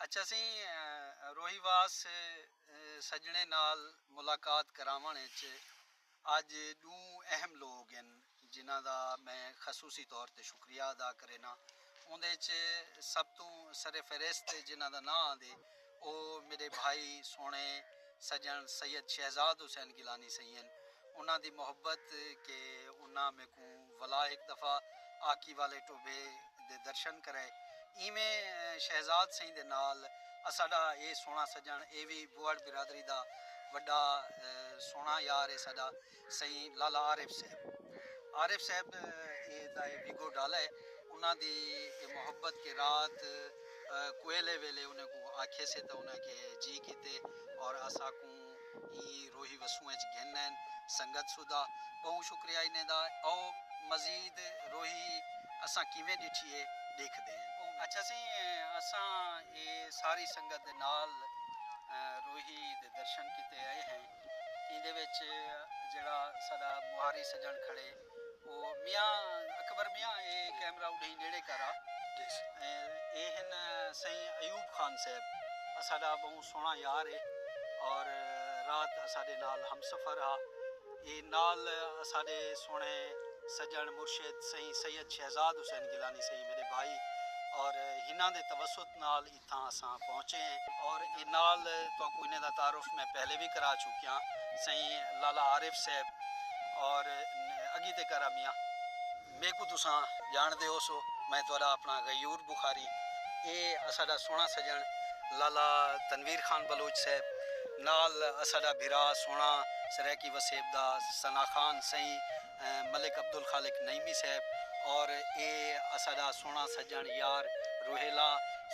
اچ اسیں روہی واس سجنڑیں نال ملاقات کراونڑ اچ اج ڈوں اہم لوگ ہن جنہاں دا میں خصوصی طور تے شکریہ ادا کرینا اوندے اچ سب توں سر فہرست جنہاں دا ناں آندے او میڈے بھائی سوہنڑے سجنڑ سید شہزاد حسین گیلانی سئیں ہن انہاں دی محبت کہ انہاں میکوں ولا ہک دفعہ آکی والے ٹوبھے دے درشن کرے۔ ایویں شہزاد سئیں دے نال اساڈا اے سوہنڑا سجنڑ اے وی بوہڑ برادری دا وڈا سوہنڑا یار اے ساڈا سئیں لالا عارف صاحب۔ عارف صاحب اے دا اے ویگو ڈالا اے۔ انہاں دی اے محبت کہ رات کوہیلے ویلے انہیں کوں آکھیسے تاں انہیں آکھیے جی کیتے اور اساکوں۔ ایں روہی وسوں اچ گھن این سنگت سودھا بہوں شکریہ انہیں دا او مزید روہی اساں کیویں ڈٹھی اے ڈیکھ دے ہیں بہوں اچھا سی اساں اے ساری سنگت دے نال روہی دے درشن کیتے اے ہیں ایندے وچ جیڑھا ساڈا موہاری سجن کھڑے او میاں اکبر میاں اے کیمرہ اڈہیں نیڑے کر آ اے ہن سئیں ایوب خان صاحب اساڈا بہوں سوہنڑا یار اے اور رات اساڈے نال ہم سفر ہا اے نال اساڈے سوہنڑے سجنڑ مرشد سئیں سید شہزاد حسین گیلانی سئیں میڈے بھائی اور ہناں دے توسط نال تھاں اساں پہنچے ہیں۔ اور ایں نال تہاکوں انہیں دا تعارف میں پہلے وی کرا چکیاں سئیں لالا عارف صاحب اور اگی تے کرا میاں۔ میکوں تساں جان دے ہوسو میں تہاڈا اپنا غیور بخاری اے اساڈا سوہنا سجن لالا تنویر خان بلوچ صاحب نال اساڈا بھرا سوہنا سرائیکی وسیب دا ثنا خان سئیں ملک عبدالخالق نعیمی صاحب اور اے اساڈا سوہنڑا سجنڑ یار روہیلا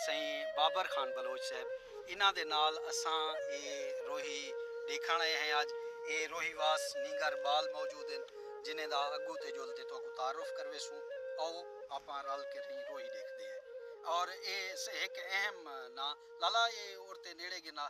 سئیں بابر خان بلوچ صاحب انہاں دے نال اساں اے روہی ڈیکھنڑ آئے ہیں اج اے روہی واس نینگر بال موجود ہن جنہیں دا اگو تے جول تے تہاکوں تعارف کرویسوں آؤ آپاں رل کے رہیں روہی ڈیکھدے ہیں اور اے ہک اہم ناں لالا اے اور تے نیڑے گھناں۔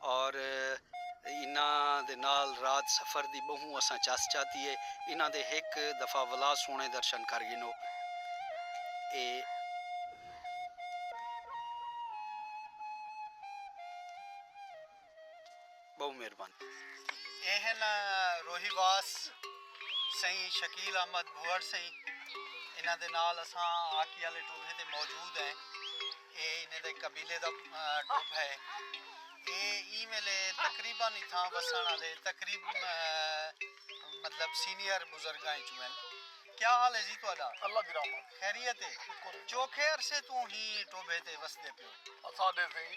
اور انہاں دے نال رات سفر دی بہوں اساں چس چاتی ہے۔ انہاں دے ہک دفعہ ولا سوہنے درشن کر گھنو۔ اے۔ بہوں مہربانی۔ اے ہن روہی واس سئیں شکیل احمد بھوئڑ سئیں۔ انہاں دے نال اساں آکی آلے ٹولھے تے موجود ہیں۔ اے انہیں دے قبیلے دا ٹب ہے۔ اے ایں ویلے تقریبا اتھاں وسݨ آلے تقریب مطلب سینئر بزرگاں ءچوں ہن۔ کیا حال ہے جی تہاݙا؟ اللہ دی رحمت۔ خیریت ہے؟ شکر ہے۔ چوکھے عرصے توں ہی ٹوبھے تے وسدے پیو؟ اساݙے سئیں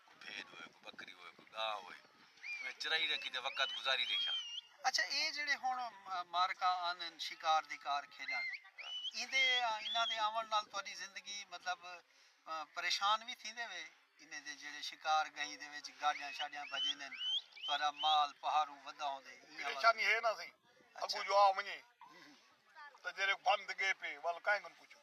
کوئی بھید ہوئے کوئی بکری ہوئے کوئی گاں ہوئے انہیں چرائی رکھی تے وقت گزاری ریشاں۔ اچھا اے جیڑھے ہن معرکہ آندن شکار دی کار کھیڈن ایندے انہاں دے آون نال تہاڈی زندگی مطلب پریشان وی تھیندے وے انہیں دے جیڑھے شکار گئیں دے وچ گاڈیاں شاڈیاں بھجیندن تہاڈا مال پہاڑو ودھا ہوندے ایہہ والا۔ پریشانی ہے نہ سہی اگوں جو آ ونجے تاں جیڑھے بند گئے پے ول کائیں کوں پچھوں۔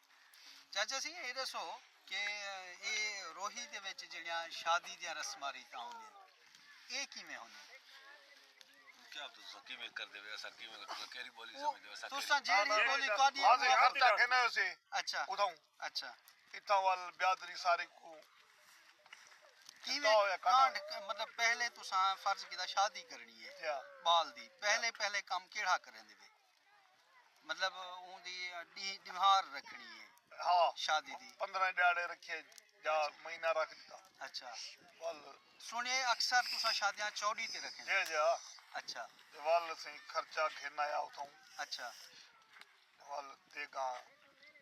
چاچا سی اے ڈسو کہ اے روہی دے وچ جڑیاں شادی دیاں رسماں ریتاں ہوندیاں اے کیویں ہوندیاں؟ کیا تساں کیویں کردے وے اساں کیویں تساں کیری بولی سمجھدے وے اساں تساں جیری بولی تہاڈی ہاں جی ہر جگہ نہ ہوسی اچھا اتھوں اچھا اتھاں ول بیادری ساری کو کیویں کانڈ مطلب پہلے تساں فرض کیتا شادی کرنی ہے بال دی پہلے پہلے کم کیڑا کریندے وے مطلب اوں دی ݙینہہ ݙیوار رکھݨی اے ہا شادی دی پندرہ ݙیہاڑے رکھیے یا مہینہ رکھ ݙتا اچھا ول سنڑیے اکثر تساں شادیاں چوݙی تے رکھیں جے جے ہا اچھا تے ول اسیں خرچہ گھن آیا اتھاں اچھا ول دیگاں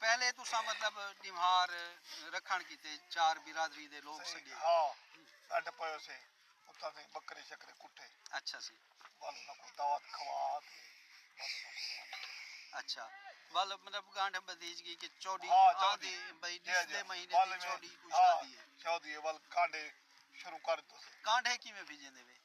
پہلے تساں مطلب ݙیوہار رکھݨ کیتے چار برادری دے لوک سݙیے۔ صحیح ہا ݙنڈ پئیو سے اتاں تئیں ٻکرے شکرے کٹھے۔ اچھا سی۔ ول انہاں کوں دعوت کھوا تے ول انہاں کوں روانہ کیتے۔ اچھا ول مطلب گانٹھ ٻدھیج گئی کہ چوݙی آندی بھئی ݙسدے مہینے دی چوݙی کوں شادی ہے۔ شادی ہے ول کانڈھے شروع کر ݙتو سے۔ کانڈھے کیویں بھیڄیندے وے؟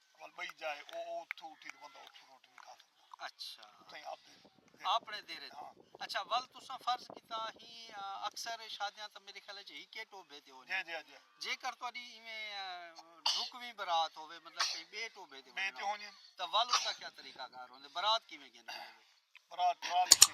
ول بئی جائے او او تھو اٹھی تے بندہ اتھوں روٹی وی کھا سکدا اچھا اتھائی آپ دے اپنے دیرے ہاں اچھا ول تساں فرض کیتا ہی اکثر شادیاں تاں میرے خیال اچ ہکے ٹوبے تے ہونی جے جے جے جے کر تہاڈی ایویں رکویں برات ہوے مطلب کہیں بے ٹوبے تے بے تے ہونی تاں ول اس دا کیا طریقہ کار ہوندے برات کیویں گھن دے برات ٹرالی تے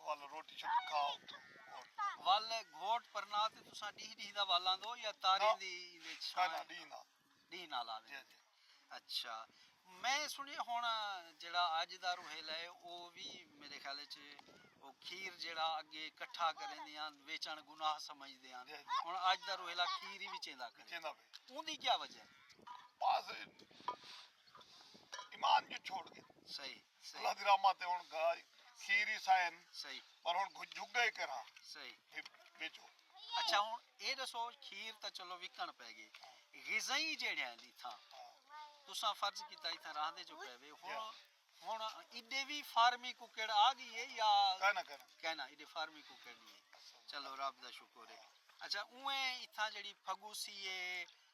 ول روٹی شوٹی کھا اتھوں اور ول گھوٹ پرنا تے تساں ڈیہہ ڈیہہ دا ول آندو یا تاریں دی ایندے وچ چھاں نہ ڈیہہ نال ڈیہہ نال آندے جی جی اچھا میں سنیا ہن جیڑا اج دا روہیلا ہے او وی میرے خیال وچ او کھیر جیڑا اگے کٹھا کریندے ہن ویچن گناہ سمجھدے ہن ہن اج دا روہیلا کھیر ہی وچیندا کرے وچیندا پے اوندی کیا وجہ ہے بس ایمان جو چھوڑ گئے صحیح اللہ دی رحمت ہے ہن گھا کھیر ہی سائن صحیح پر ہن گھو جھگا ہی کرا صحیح ہی بیچو اچھا ہن اے دسو کھیر تا چلو وکن پے گی غذائی جیڑے ہیں دی تھا تساں فرض کیتا ہی تھا راہ دے جو پے وے ہن ہن ایڈے وی فارمی کو کیڑا آ گئی ہے یا کہنا کہنا کہنا ایڈے فارمی کو کیڑی ہے چلو رب دا شکر ہے اچھا اوے ایتھا جڑی پھگوسی ہے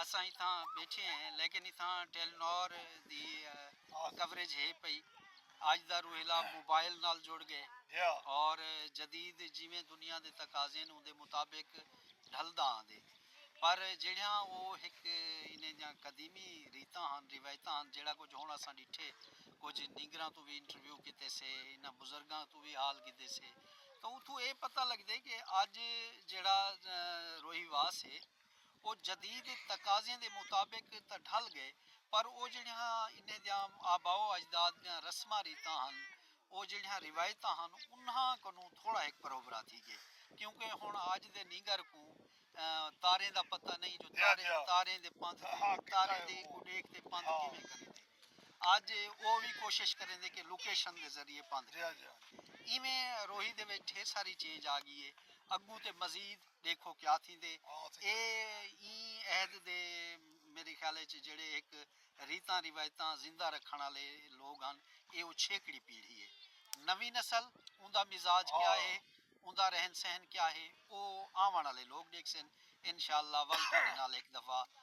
اساں اتھاں ٻیٹھے ہیں لیکن اتھاں ٹیلی نار دی کوریج ہے پئی۔ اج دا روہیلا موبائل نال جڑ ڳئے اور جدید جیویں دنیا دے تقاضے ہن اوندے مطابق ڈھلدا آندے پر جیڑھیاں او ہک انہیں دیاں قدیمی ریتاں ہن روایتاں ہن جیڑھا کجھ ہن اساں ڈٹھے کجھ نینگراں توں وی انٹرویو کیتے سے انہاں بزرگاں توں وی حال گھدے سے تاں اتھوں اے پتہ لگدے کہ اج جیڑھا روہیوا سے۔ او جدید تقاضیں دے مطابق تاں ڈھل ڳئے پر او جیڑھیاں انہیں دیاں آباء و اجداد دیاں رسماں ریتاں ہن او جیڑھیاں روایتاں ہن انہاں کنوں تھوڑا ہک پروبرا تھی ڳئے کیونکہ ہن اج دے نینگر کوں تاریں دا پتہ نئیں جو تاریں دے پندھ تاریں دی اڈیکھ تے پندھ کیویں کریندے اج او وی کوشش کریندے کہ لوکیشن دے ذریعے پندھ کریندے ایویں روہی دے وچ ڈھیر ساری چینج آ ڳی ہے اڳوں تے مزید ڈیکھو کیا تھیندے اے ایں عہد دے میڈے خیال اچ جیڑھے ہک ریتاں روایتاں زندہ رکھݨ آلے لوگ ہن اے او چھیکڑی پیڑھی اے نویں نسل اوندا مزاج کیا اے اوندا رہن سہن کیا اے او آوݨ آلے لوگ ڈیکھسن انشاءاللہ ول تہاڈے نال ہک دفعہ